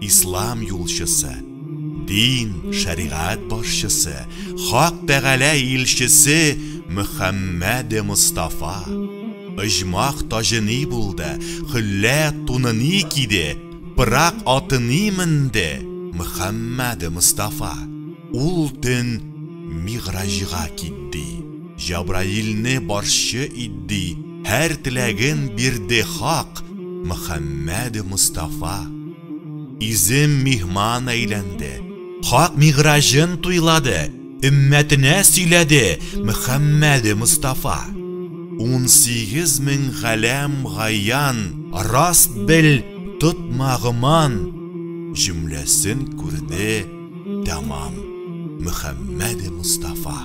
Ислам юлчысы, дин, шәригать башчысы, Хак Тәгалә илчесе Мөхәммәд Мостафа, Ыҗмах таҗы ни булды, Хөллә туны ни киде, Пырак аты ни менде, Мөхәммәд Мостафа, Ул төн Мигъраҗга китди. Җабраилне барчы идди Һәр теләген бирде Хак, Мөхәммәде Мостафа. Изем миһман әйләнде Хак мигъраҗын туйлады Өммәтенә сөйләде Мөхәммәде Мостафа. Унсигез мең галәм гаян Раст бел, тотма гоман Җөмләсен күрде тәмам Мөхәммәде Мостафа.